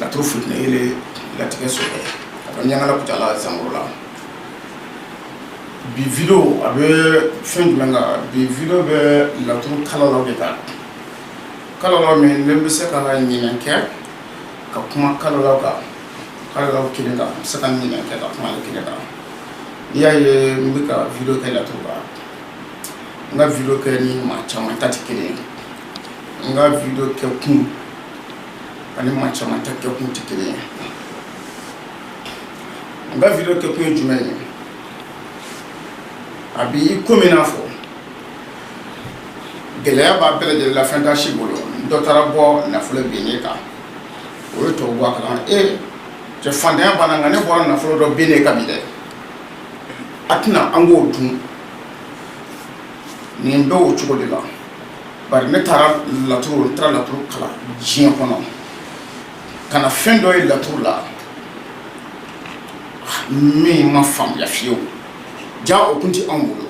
Laturu fitiri latigɛ sɔrɔ a ɲagala Kucala zamuru la bi video a bɛ fɛn jumɛn kan bi video bɛ laturu kalala de ta kalala min n bɛ se ka ɲinan kɛ ka kuma kalala kelen kan n bɛ se ka ɲinan kɛ ka kuma kelen kan i y'a ye n bɛ ka video kɛ laturu ba n ka video kɛ ni maa caman ta tɛ kelen ye n ka video kɛ kun ani maa caman ta kɛkun tɛ kelen ye n ka video kɛkun ye jumɛn ye a bɛ i komi n'a fɔ gɛlɛya b'a bɛɛ lajɛlen la fɛn t'a si bolo dɔ taara bɔ nafolo binni kan o ye tɔw bɔ a kalama e cɛ fantanya banna nka ne bɔra nafolo dɔ binni kan bi dɛ a tɛna an k'o dun nin bɛ o cogo de la bari ne taara laturu kalan diɲɛ kɔnɔ ka na fɛn dɔ ye laturu la min ma faamuya fiyewu ja o kun tɛ anw bolo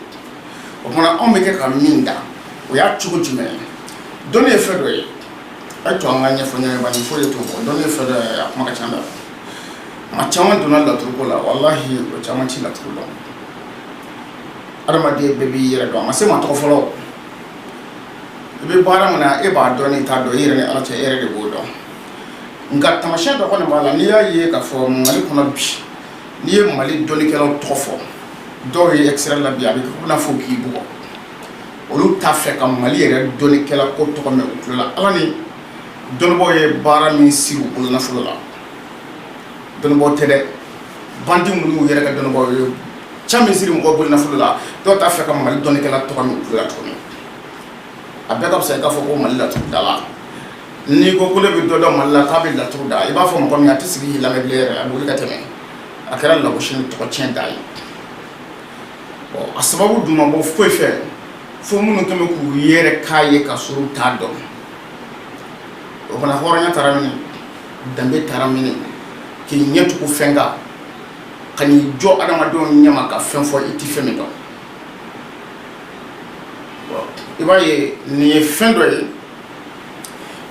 o tuma anw bɛ kɛ ka min da o y'a cogo jumɛn ye dɔnni ye fɛn dɔ ye a y'a to an ka ɲɛfɔ ɲɔgɔn ye bari foyi de t'o bɔ dɔnni ye fɛn dɔ ye a kuma ka ca dɛ maa caman donna laturuko la walahi o caman tɛ laturu dɔn adamaden bɛɛ b'i yɛrɛ dɔn a ma se maa tɔgɔ fɔlɔ i bɛ baara min na e b'a dɔn n'i t'a dɔn i yɛrɛ ni Ala cɛ e yɛrɛ de b'o dɔn nka taamasiyɛn dɔ kɔni b'a la n'i y'a ye k'a fɔ Mali kɔnɔ bi n'i ye Mali dɔnnikɛlaw tɔgɔ fɔ dɔw ye extérieur la bi a bɛ kɛ i n'a fɔ k'i bugɔ olu t'a fɛ ka Mali yɛrɛ dɔnnikɛla ko tɔgɔ mɛn u tulo la Ala ni dɔnnibaaw ye baara min siri u bolo nafolo la dɔnnibaaw tɛ dɛ bandi minnu y'u yɛrɛ kɛ dɔnnibaaw ye ca min siri mɔgɔw bolo nafolo la dɔw t'a fɛ ka mali dɔnnikɛla tɔgɔ mɛn u tulo la tuguni a bɛɛ ka fisa i k'a fɔ ko mali laturu da la n'i ko ko ne bɛ dɔ dɔn mali la k'a bɛ laturu da i b'a fɔ mɔgɔ min a tɛ sigi k'i lamɛn bilen yɛrɛ a bɛ wuli ka tɛmɛ a kɛra lagosi ni tɔgɔ tiɲɛ da ye a sababu dun ma bɔ foyi fɛ fo minnu kun bɛ k'u yɛrɛ k'a ye ka sɔrɔ u t'a dɔn o fana hɔrɔnya taara min danbe taara min k'i ɲɛ tugu fɛn kan ka n'i jɔ adamadenw ɲɛma ka fɛn fɔ i tɛ fɛn min dɔn i b'a ye nin ye fɛn dɔ ye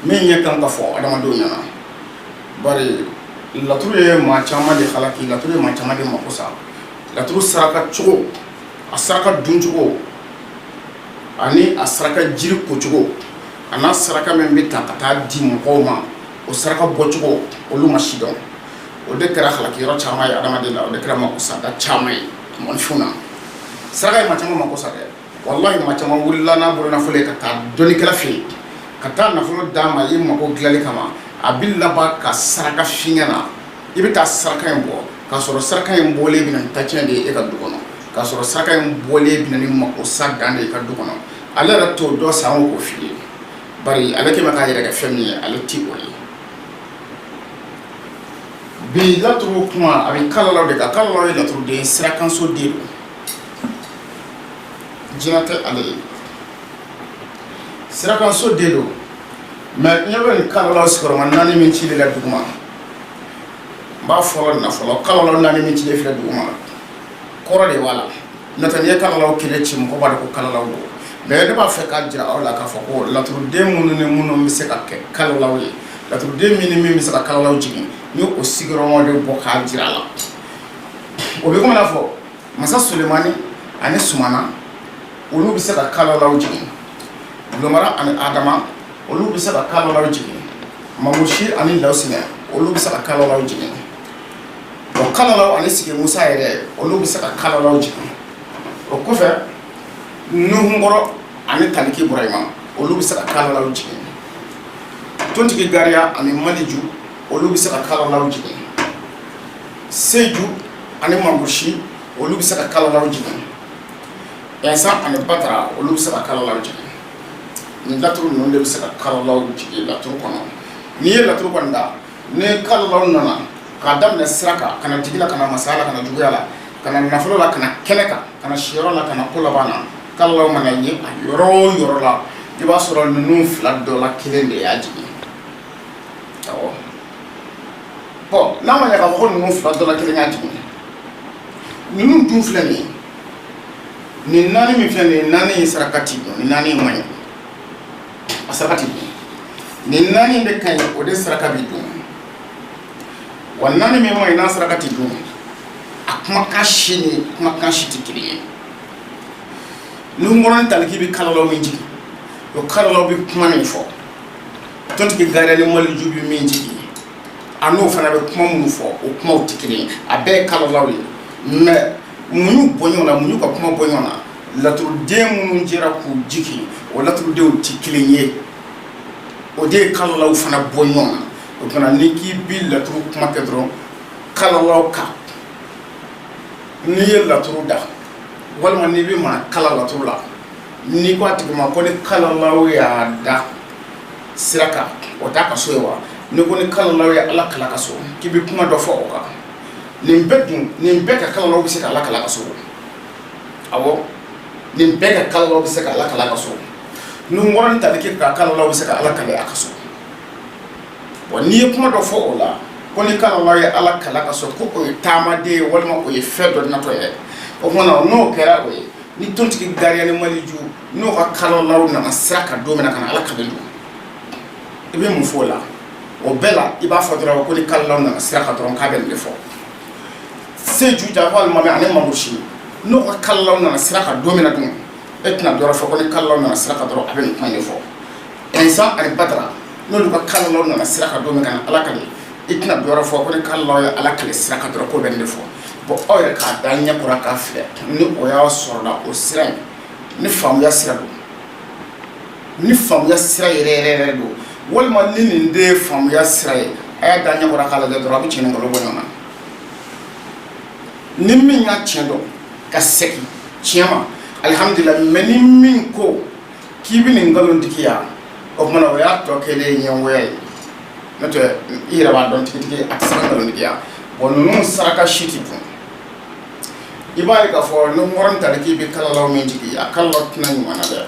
min ɲɛ kan ka fɔ adamadenw ɲɛna bari laturu ye maa caman de halaki laturu ye maa caman de mako sa laturu saraka cogo a saraka duncogo ani a saraka jiri kocogo a n'a saraka min bɛ ta ka taa di mɔgɔw ma o saraka bɔcogo olu ma sidɔn o de kɛra halaki yɔrɔ caman ye adamaden na o de kɛra mako sa da caman ye mɔnifin na saraka ye maa caman mako sa dɛ walahi maa caman wulila n'a bolo nafolo ye ka taa dɔnnikɛla fɛ yen ka taa nafolo d'a ma i mako dilanli kama a bɛ laban ka saraka f'i ɲɛ na i bɛ taa saraka in bɔ k'a sɔrɔ saraka in bɔlen bɛ na ni tatiɲɛ de ye e ka du kɔnɔ k'a sɔrɔ saraka in bɔlen bɛ na ni mako sa dan de ye e ka du kɔnɔ ale yɛrɛ t'o dɔn sanko k'o f'i ye bari ale kɛ bɛ k'a yɛrɛ kɛ fɛn min ye ale ti o ye Bi laturu kuma a bɛ kalalaw de kan kalalaw ye laturuden sirakanso de don jinɛ tɛ ale ye sirakanso de don mɛ ɲɛ bɛ nin kalalaw sigiyɔrɔma naani min cilen la dugu ma n b'a fɔ nafolo kalalaw naani min cilen filɛ dugu ma kɔrɔ de b'a la N'o tɛ n'i ye kalalaw kelen ci mɔgɔ b'a dɔn ko kalalaw don mais ne b'a fɛ k'a jira aw la k'a fɔ ko laturuden minnu ni minnu bɛ se ka kɛ kalalaw ye laturuden min ni min bɛ se ka kalalaw jigin ni o sigiyɔrɔma de bɔ k'a jira a la o bɛ komi n'a fɔ masa Sulemani ani Sumana olu bɛ se ka kalalaw jigin Lomara ani Adama olu bɛ se ka kalalaw jigin Mamusi ani Lawusina olu bɛ se ka kalalaw jigin kalalaw ani sigi musa yɛrɛ olu bɛ se ka kalalaw jigin o kɔfɛ nuhunkɔrɔ ani taliki burahima olu bɛ se ka kalalaw jigin tontigi gariya ani maliju olu bɛ se ka kalalaw jigin seju ani mamusi olu bɛ se ka kalalaw jigin ɛnsan ani batara olu bɛ se ka kalalaw jigin nin laturu ninnu de bɛ se ka kalalaw jigin laturu kɔnɔ n'i ye laturu kɔni da ni kalalaw nana k'a daminɛ sira kan ka na jigi la ka na masaya la ka na juguya la ka na nafolo la ka na kɛnɛ kan ka na siyɔrɔ la ka na ko laban na kalalaw mana ye a yɔrɔ o yɔrɔ la i b'a sɔrɔ ninnu fila dɔ la kelen de y'a jigin bon n'a ma ɲɛ k'a fɔ ko ninnu fila dɔ la kelen y'a jigin ninnu dun filɛ nin nin naani min filɛ nin naani ye saraka ti dun nin naani man ɲi a saraka ti dun nin naani de ka ɲi o de saraka bi dun wa naani min man ɲi n'a saraka ti dun a kumakan si ni kumakan si tɛ kelen ye nuhunkɔrɔ ni taliki bɛ kalalaw min jigin o kalalaw bɛ kuma min fɔ tontigi gariya ni maliju bɛ min jigin a n'o fana bɛ kuma minnu fɔ o kumaw tɛ kelen ye a bɛɛ ye kalalaw ye mɛ mun y'u bɔ ɲɔgɔn na mun y'u ka kuma bɔ ɲɔgɔn na laturuden minnu jɛra k'u jigin o laturudenw tɛ kelen ye o de ye kalalaw fana bɔ ɲɔgɔn na o tuma ni k'i bi laturu kuma kɛ dɔrɔn kalalaw kan n'i ye laturu da walima n'i bɛ maa kalan laturu la n'i ko a tigi ma ko ni kalalaw y'a da sira kan o t'a ka so ye wa n'i ko ni kalalaw ye ala kal'a ka so k'i bɛ kuma dɔ fɔ o kan nin bɛɛ dun nin bɛɛ ka kalalaw bɛ se ka ala kal'a ka so awɔ nin bɛɛ ka kalalaw bɛ se ka ala kal'a ka so nuhunkɔrɔ ni taliki ka kalalaw bɛ se ka ala kale a ka so bon n'i ye kuma dɔ fɔ o la ko ni kalalaw ye ala kal'a ka so ko o ye taamaden ye walima o ye fɛn dɔ natɔ ye o tuma n'o kɛra o ye ni tontigi gariya ni maliju n'o ka kalalaw nana sira kan don min na ka na ala kale don i bɛ mun fɔ o la o bɛɛ la i b'a fɔ dɔrɔn ko ni kalalaw nana sira kan dɔrɔn k'a bɛ nin de fɔ seju janfa alimami ani mangusi n'o ka kalalaw nana sira kan don min na dun e tɛna dɔwɛrɛ fɔ ko ni kalalaw nana sira kan dɔrɔn a bɛ nin kuma de fɔ insa ani badara n'olu ka kalalaw nana sira kan don min ka na ala kale i tɛna dɔwɛrɛ fɔ ko ni kalalaw ye ala kale sira kan dɔrɔn k'o bɛ nin de fɔ bon aw yɛrɛ k'a da ɲɛ kɔrɔ k'a filɛ ni o y'a sɔrɔla o sira in ni faamuya sira don ni faamuya sira yɛrɛ yɛrɛ yɛrɛ don walima ni nin tɛ faamuya sira ye a y'a da ɲɛ kɔrɔ k'a lajɛ dɔrɔn a bɛ tiɲɛ ni nkalon bɔ ɲɔgɔn na ni min y'a tiɲɛ dɔn ka segin tiɲɛ ma alihamdulilahi mɛ ni min ko k'i bɛ nin nkalontigiya o tuma o y'a tɔ kɛlen ɲɛngoya ye n'o tɛ i yɛrɛ b'a dɔn tigitigi a tɛ se ka nkalontigiya wa ninnu saraka si tɛ dun i b'a ye k'a fɔ nuhunkɔrɔ ni taliki bɛ kalalaw min jigin a kalalaw tɛna ɲuman na dɛ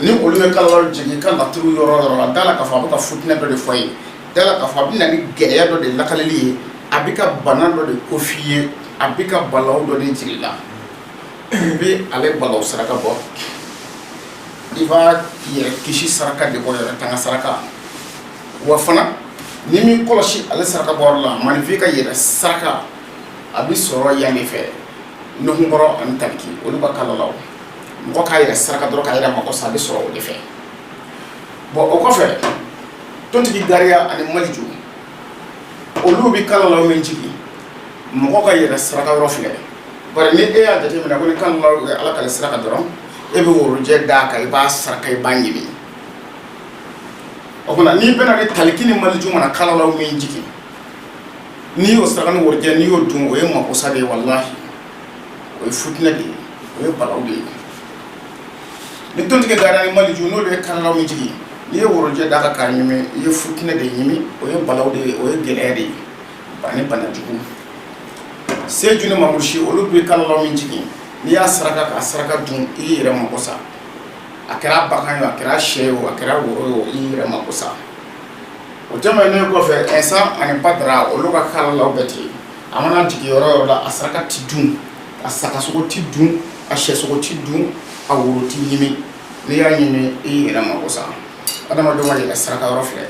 ni olu bɛ kalalaw jigin ka laturu yɔrɔ yɔrɔ a da la k'a fɔ a bɛ ka fitinɛ dɔ de f'i ye da la k'a fɔ a bɛ na ni gɛlɛya dɔ de lakaleli ye a bɛ ka bana dɔ de ko f'i ye a bɛ ka balaw dɔ de jira i la i bɛ ale balaw saraka bɔ i b'a yɛrɛ kisi saraka de bɔ yɛrɛ tanga saraka wa fana ni min kɔlɔsi ale saraka bɔ la maaninfin ka yɛrɛ saraka a bɛ sɔrɔ yan de fɛ nuhunkɔrɔ ani taliki olu ka kalalaw mɔgɔ k'a yɛrɛ saraka dɔrɔn k'a yɛrɛ mako sa a bɛ sɔrɔ o de fɛ bon o kɔfɛ tontigi gariya ani maliju olu bɛ kalalaw min jigin mɔgɔ ka yɛrɛ saraka yɔrɔ filɛ bari ni e y'a jateminɛ ko ni kalalaw ye ala kale sira kan dɔrɔn e bɛ worojɛ d'a kan i b'a saraka i b'a ɲimi o kumana n'i bɛna ni taliki ni maliju mana kalalaw min jigin n'i y'o saraka ni worojɛ n'i y'o dun o ye makosa de ye walahi o ye fut de ye o ye balaw de ye ni tontigi gariya ni maliju n'olu ye kalalaw min jigin n'i ye worojɛ d'a kan k'a ɲimi i ye futinɛ de ɲimi o ye balaw de ye o ye gɛlɛya de ye ani banajugu seju ni mamusi olu bɛ kalalaw min jigin n'i y'a saraka k'a saraka dun i y'i yɛrɛ mako sa a kɛra bagan ye a kɛra sɛ ye a kɛra woro ye i y'i yɛrɛ mako sa o tɛmɛnen kɔfɛ Insa ani Badara olu ka kalalaw bɛ ten, a mana jigin yɔrɔ o yɔrɔ la, a saraka tɛ dun, a sagasogo tɛ dun, a sɛsogo tɛ dun, a woro tɛ ɲimi, n'i y'a ɲimi i y'i yɛrɛ mako sa, adamadenw ka yɛrɛ saraka yɔrɔ filɛ,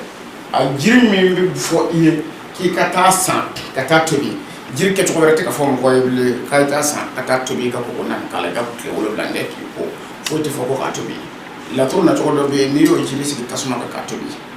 a jiri min bɛ fɔ i ye k'i ka taa san ka taa tobi, jiri kɛcogo wɛrɛ tɛ ka fɔ mɔgɔ ye bilen k'a ye taa san ka taa tobi i ka kɔgɔ naani k'a la i ka tile wolonwula kɛ k'i ko, foyi tɛ fɔ ko k'a tobi, laturu nacogo dɔ bɛ yen n'i y'o jiri sigi tasuma kan k'a tobi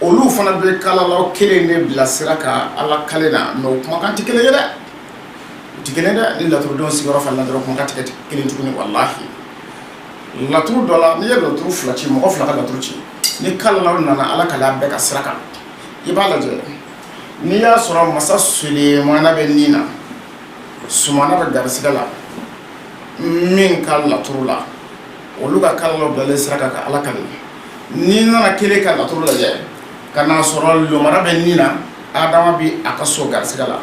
olu fana bɛ kalalaw kelen de bila sira kan alkali na mɛ o kumakan tɛ kelen ye dɛ tɛ kelen dɛ ni laturuden sigiyɔrɔ fana la dɔrɔn kumakan tɛ kelen tuguni walahi laturu dɔ la n'i ye laturu fila ci mɔgɔ fila ka laturu ci ni kalalaw nana alkali bɛɛ ka sira kan i b'a lajɛ n'i y'a sɔrɔ masa solemana bɛ nin na sumana bɛ garisɛgɛ la min ka laturu la olu ka kalalaw bilalen sira kan ka alkali N'i nana kelen ka laturu lajɛ ka n'a sɔrɔ lomara bɛ nin na adama bɛ a ka so garisɛgɛ la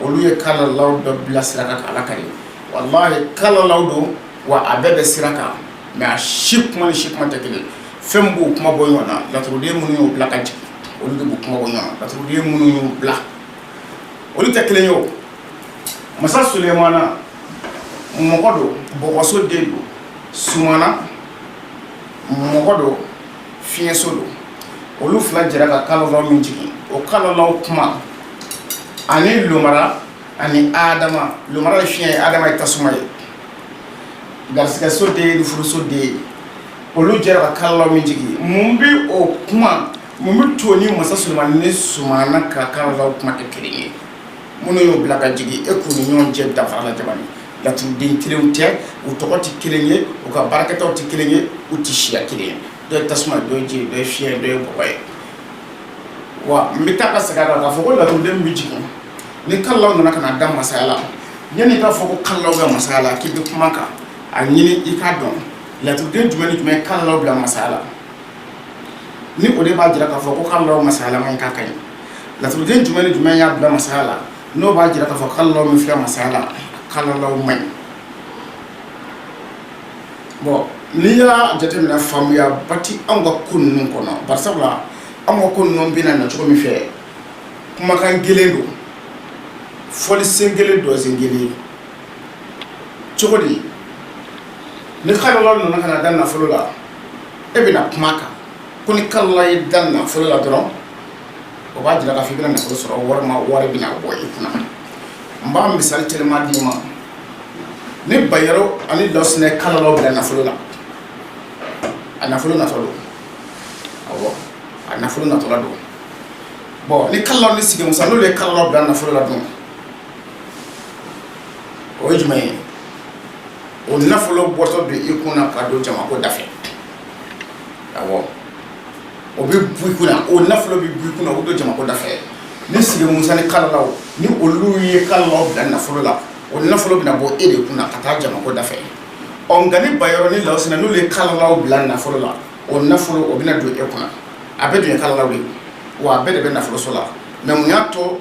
olu ye kalalaw dɔ bila sira kan ka alkali walahi kalalaw don wa a bɛɛ bɛ sira kan mɛ a si kuma ni si kuma tɛ kelen fɛn b'u kuma bɔ ɲɔgɔn na laturuden minnu y'u bila ka jigin olu de b'u kuma bɔ ɲɔgɔn na laturuden minnu y'u bila olu tɛ kelen ye o masa solemana mɔgɔ don bɔgɔso den don sumana mɔgɔ don fiɲɛso don olu fila jɛra ka kalalaw min jigin o kalalaw kuma ani lomara ani adama lomara ye fiɲɛ ye adama ye tasuma ye garisɛgɛso de ye ni furuso de ye olu jɛra ka kalalaw min jigin mun bɛ o kuma mun bɛ to ni masa sulemana ni sumana ka kalalaw kuma kɛ kelen ye minnu y'o bila ka jigin e k'u ni ɲɔgɔn cɛ danfara la jamana laturuden kelen tɛ u tɔgɔ tɛ kelen ye u ka baarakɛtaw tɛ kelen ye u tɛ siya kelen ye dɔ ye tasuma dɔ ye ji dɔ ye fiɲɛ dɔ ye bɔgɔ ye wa n bɛ taa ka segin a kan k'a fɔ ko laturuden bɛ jigin ni kalalaw nana ka da masaya la yanni i k'a fɔ ko kalalaw bɛ masaya la k'i bɛ kuma kan a ɲini i k'a dɔn laturuden jumɛn ni jumɛn kalalaw bila masaya la ni o de b'a jira k'a fɔ ko kalalaw masayalama k'a ka ɲi Laturuden jumɛn ni jumɛn y'a bila masaya la n'o b'a jira k'a fɔ kalalaw min filɛ masaya la kalalaw man ɲi bon n'i y'a jateminɛ faamuyaba tɛ anw ka ko ninnu kɔnɔ bari sabula anw ka ko ninnu bɛna na cogo min fɛ kumakan gɛlɛn don fɔli sen gɛlɛn dɔnsen gɛlɛn cogo di ni kalalaw nana ka na da nafolo la e bɛna kuma a kan ko ni kalalaw ye da nafolo la dɔrɔn o b'a jira k'a fɔ i bɛna nafolo sɔrɔ walima wari bɛna bɔ i kunna n b'a misali telima d'i ma ni Bayaro ani Lɔsinɛ kalalaw bila nafolo la a nafolo natɔ don awɔ a nafolo natɔla don bon ni kalalaw ni Sigi Musa n'olu ye kalalaw bila nafolo la dun o ye jumɛn ye o nafolo bɔtɔ don i kunna ka don jamako da fɛ awɔ o bɛ bɔ i kunna o nafolo bɛ bɔ i kunna o don jamako da fɛ ni Sigi Musa ni kalalaw ni olu ye kalalaw bila nafolo la o nafolo bɛna bɔ e de kunna ka taa jamako da fɛ ɔ nka ni Bayaro ni Lɔsinɛ n'olu ye kalalaw bila nafolo la o nafolo o bɛna don e kunna a bɛɛ dun ye kalalaw de ye wa a bɛɛ de bɛ nafoloso la mɛ mun y'a to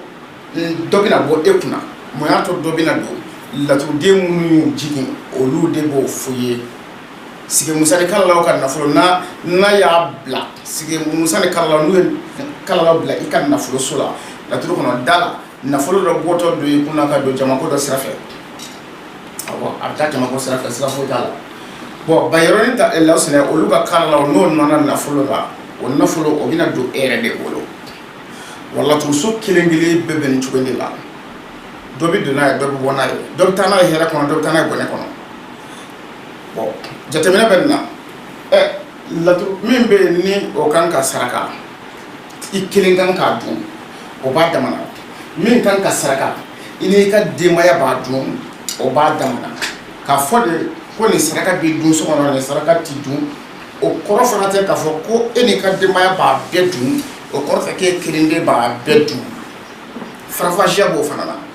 dɔ bɛna bɔ e kunna mun y'a to dɔ bɛna don laturuden minnu jigin olu de b'o f'i ye Sigi Musa ni kalalaw ka nafolo n'a y'a bila Sigi Musa ni kalalaw n'u ye kalalaw bila i ka nafoloso la laturu kɔnɔ da la nafolo dɔ bɔtɔ don i kunna ka don jamako dɔ sira fɛ a bɛ taa jamako sira fɛ siga foyi t'a la bon Bayaro ni Lɔsinɛ olu ka kalalaw n'o nana nafolo la o nafolo o bɛna don e yɛrɛ de bolo wa laturuso kelen kelen bɛɛ bɛ nin cogo de la dɔ bɛ don n'a ye dɔ bɛ bɔ n'a ye dɔ bɛ taa n'a ye hɛrɛ kɔnɔ dɔ bɛ taa n'a ye bɔnɛ kɔnɔ jateminɛ bɛ nin na laturu min bɛ yen ni o kan ka saraka i kelen kan k'a dun o b'a damana min kan ka saraka i n'i ka denbaya b'a dun o b'a damana k'a fɔ de ko nin saraka bɛ dun so kɔnɔ nin saraka ti dun o kɔrɔ fana tɛ k'a fɔ ko e n'i ka denbaya b'a bɛɛ dun o kɔrɔ tɛ k'e kelen de b'a bɛɛ dun faranfasiya b'o fana na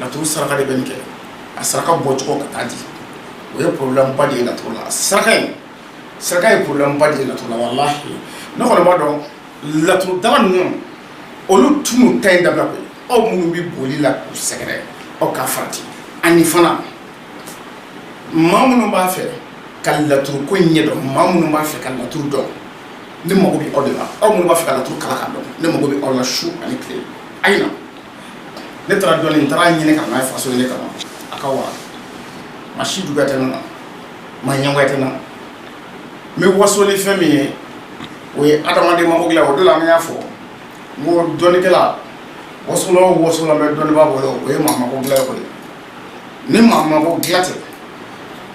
laturu saraka de bɛ nin kɛ a saraka bɔcogo ka taa di o ye problème ba de ye laturu la saraka in saraka ye problème ba de ye laturu la wallahi ne kɔni b'a dɔn laturu dala ninnu olu tun ta in dabila koyi aw minnu bɛ boli la k'u sɛgɛrɛ aw ka farati ani fana maa minnu b'a fɛ ka laturu ko in ɲɛ dɔn maa minnu b'a fɛ ka laturu dɔn ne mago bɛ aw de la aw minnu b'a fɛ ka laturu kalan k'a dɔn ne mago bɛ aw la su ani tile a' ye na ne taara dɔnni n taara ɲini ka n'a ye faso nin de kama a ka wa maa si juguya tɛ ne na maa ɲɛngoya tɛ ne na n bɛ waso ni fɛn min ye o ye adamaden mako dilan o de la an y'a fɔ n ko dɔnnikɛla wasolan o wasolan bɛ dɔnnibaa bolo o ye maa mako dilan koyi ni maa mako dilan tɛ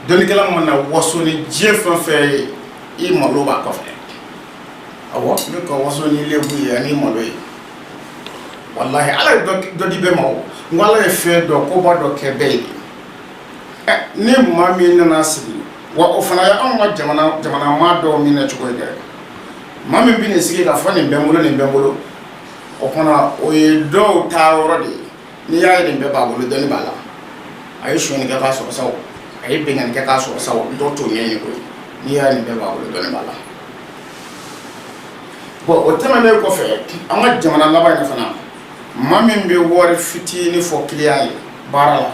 dɔnnikɛla mana waso ni diɲɛ fɛn fɛn ye i malo b'a kɔfɛ awɔ i bɛ ka waso ni i lebu ye ani i malo ye walahi ala ye dɔ di bɛɛ ma nka ala ye fɛn dɔ koba dɔ kɛ bɛɛ ye ni maa min nana sigi wa o fana ye anw ka jamana maa dɔw minɛ cogo ye dɛ maa min bɛ n'i sigi k'a fɔ nin bɛ n bolo nin bɛ n bolo o fana o ye dɔw taa yɔrɔ de ye n'i y'a ye nin bɛɛ b'a bolo dɔnni b'a la a ye sonyali kɛ k'a sɔrɔ sa o a ye binkanni kɛ k'a sɔrɔ sa o dɔw t'o ɲɛɲini koyi n'i y'a ye nin bɛɛ b'a bolo dɔnni b'a la bɔn o tɛmɛnen kɔfɛ an ka jamana laban in fana maa min bɛ wari fitinin fɔ kiliyan ye baara la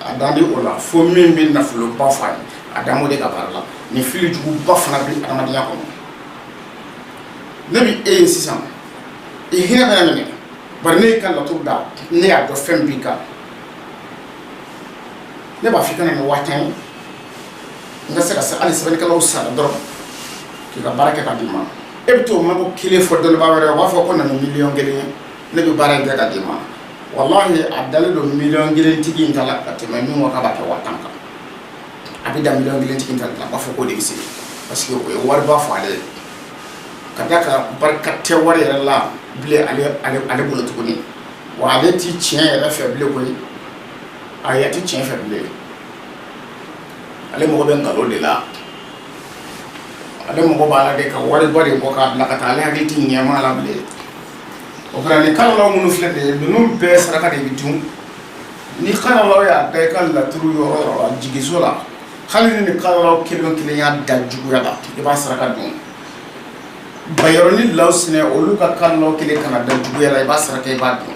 a dalen t'o la fo min bɛ nafoloba f'a ye a dalen o de ka baara la nin fili juguba fana bɛ adamadenya kɔnɔ ne bɛ e ye sisan i hinɛ bɛ ne minɛ bari ne y'i ka laturu da ne y'a dɔn fɛn b'i kan ne b'a f'i ka na ni waa tan ye n ka se ka se hali sɛbɛnnikɛlaw sara dɔrɔn k'i ka baara kɛ ka d'i ma e bɛ t'o mago kelen fɔ dɔnnibaa wɛrɛ o b'a fɔ ko na ni miliyɔn kelen ye ne bɛ baara in kɛ ka d'i ma walahi a dalen don miliyɔn kelen tigi in ta la ka tɛmɛ min ko k'a b'a kɛ waa tan kan a bɛ da miliyɔn kelen tigi in ta la a b'a fɔ k'o de bɛ se parce que o ye wariba fɔ ale ye k'a d'a kan barika tɛ wari yɛrɛ la bilen ale bolo tuguni wa ale tɛ tiɲɛ yɛrɛ fɛ bilen koyi a yɛrɛ tɛ tiɲɛ fɛ bilen ale mago bɛ nkalon de la ale mago b'a la de ka wariba de bɔ k'a bila ka taa ale hakili tɛ ɲɛmaa la bilen o kɛra nin kalalaw minnu filɛ de ye ninnu bɛɛ saraka de bɛ dun ni kalalaw y'a da i ka laturu yɔrɔ yɔrɔ la jigiso la Hali ni kalalaw kelen kelen y'a da juguya la i b'a saraka dun bayɔrɔ ni lawsinɛ olu ka kalalaw kelen kana da juguya la i b'a saraka i b'a dun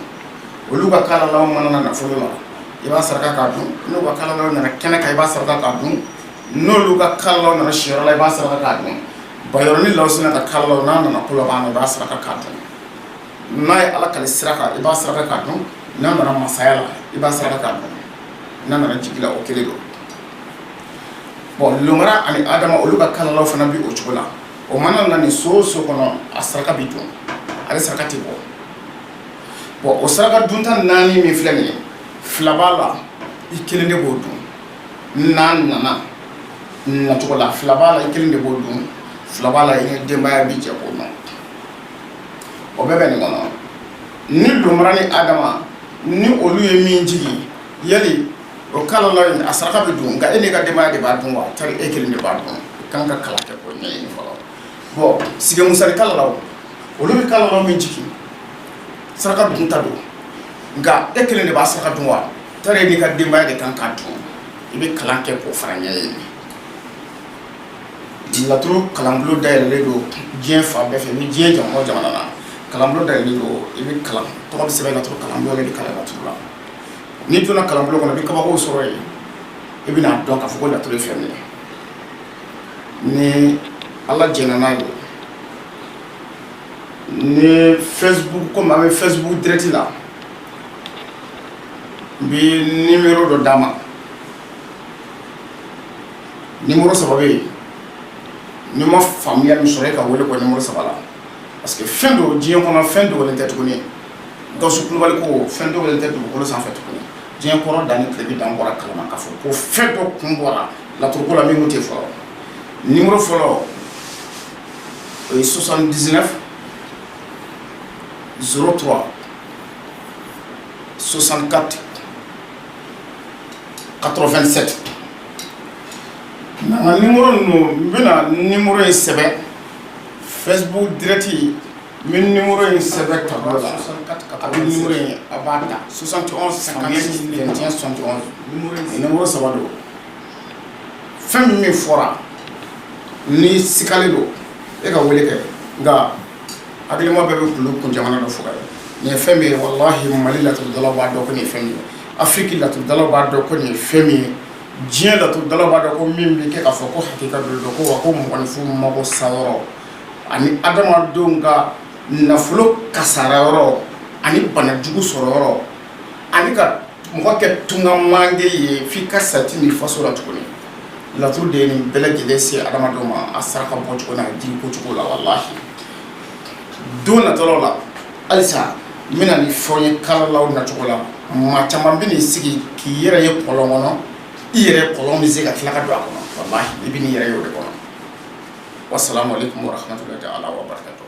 olu ka kalalaw mana na nafolo la i b'a saraka k'a dun n'u ka kalalaw nana kɛnɛ kan i b'a saraka k'a dun n'olu ka kalalaw nana siyɔrɔ la i b'a saraka k'a dun bayɔrɔ ni lawsinɛ ka kalalaw n'a nana kolaban na i b'a saraka k'a dun n'a ye ala kali sira kan i b'a saraka k'a dun n'a nana masaya la i b'a saraka k'a dun n'a nana jigi la o kelen don bɔn lomara ani adama olu ka kalalaw fana bɛ o cogo la o mana na nin so o so kɔnɔ a saraka bɛ dun ale saraka tɛ bɔ bɔn o saraka dunta naani min filɛ nin ye fila b'a la i kelen de b'o dun n'a nana nacogo la fila b'a la i kelen de b'o dun fila b'a la i n'i denbaya bɛ jɛ k'o dun o bɛɛ bɛ nin kɔnɔ ni lomara ni adama ni olu ye min jigin yali o kalalaw a saraka bɛ dun nka e n'i ka denbaya de b'a dun wa tari e kelen de b'a dun k'an ka kalan kɛ k'o ɲɛɲini fɔlɔ bon sigi musa ni kalalaw olu bɛ kalalaw min jigin saraka dunta don nka e kelen de b'a saraka dun wa tari e n'i ka denbaya de kan k'a dun i bɛ kalan kɛ k'o fana ɲɛɲini Laturu kalanbulon da yɛlɛlen don diɲɛ fan bɛɛ fɛ ni diɲɛ jamana o jamana na kalanbulon da yɛlɛlen don i bɛ kalan tɔgɔ bɛ sɛbɛn laturu kalanbulon de bɛ kalan laturu la n'i donna kalanbulon kɔnɔ i bɛ kabakow sɔrɔ yen i bɛna a dɔn k'a fɔ ko laturu ye fɛn min ye ni ala jɛnna n'a ye ni Facebook komi an bɛ Facebook direct la n bɛ numéro dɔ d'a ma numéro saba bɛ yen n'i ma faamuya min sɔrɔ e ka weele k'o numéro saba la parce que fɛn dɔ diɲɛ kɔnɔ fɛn dogolen tɛ tuguni Gawusu Kulubali ko fɛn dogolen tɛ dugukolo sanfɛ tuguni diɲɛ kɔrɔn dan ni tilebin dan bɔra kalama k'a fɔ ko fɛn dɔ kun bɔra laturuko la min kun tɛ fɔlɔ numéro fɔlɔ o ye soixante-dix-neuf zéro trois soixante-quatre quatre-vingt-sept Nka ni ninnu n bɛna ni in sɛbɛn fɛbu dɛrɛti n bɛ ni in sɛbɛn ta la a bɛ in a b'a ta sonsan sɔn saba don fɛn min min fɔra ni sigilen don e ka weele kɛ nka hakilima bɛɛ bɛ kulu kun jamana dɔ faga nin ye fɛn min ye walahi mali laturudala b'a dɔn ko nin ye fɛn min ye afiriki laturudala b'a dɔn ko nin ye fɛn min ye diɲɛ laturudala b'a dɔn ko min bɛ kɛ k'a fɔ ko hakika dɔ don ko wa ko mɔgɔninfin mago sa yɔrɔ ani adamadenw ka nafolo kasara yɔrɔ ani banajugu sɔrɔ yɔrɔ ani ka mɔgɔ kɛ tunga mange ye f'i ka sa i tɛ n'i faso la tuguni laturu de ye nin bɛɛ lajɛlen se adamadenw ma a saraka bɔ cogo n'a jiri ko cogo la walahi don nataw la halisa n bɛna nin fɔ a ye kalalaw nacogo la maa caman bɛ n'i sigi k'i yɛrɛ ye kɔlɔn kɔnɔ i yɛrɛ kɔlɔn bɛ sen ka tila ka don a kɔnɔ walahi i bɛ n'i yɛrɛ ye o de kɔnɔ wasalamu alaikum warahmatullahi taala wabarakatuh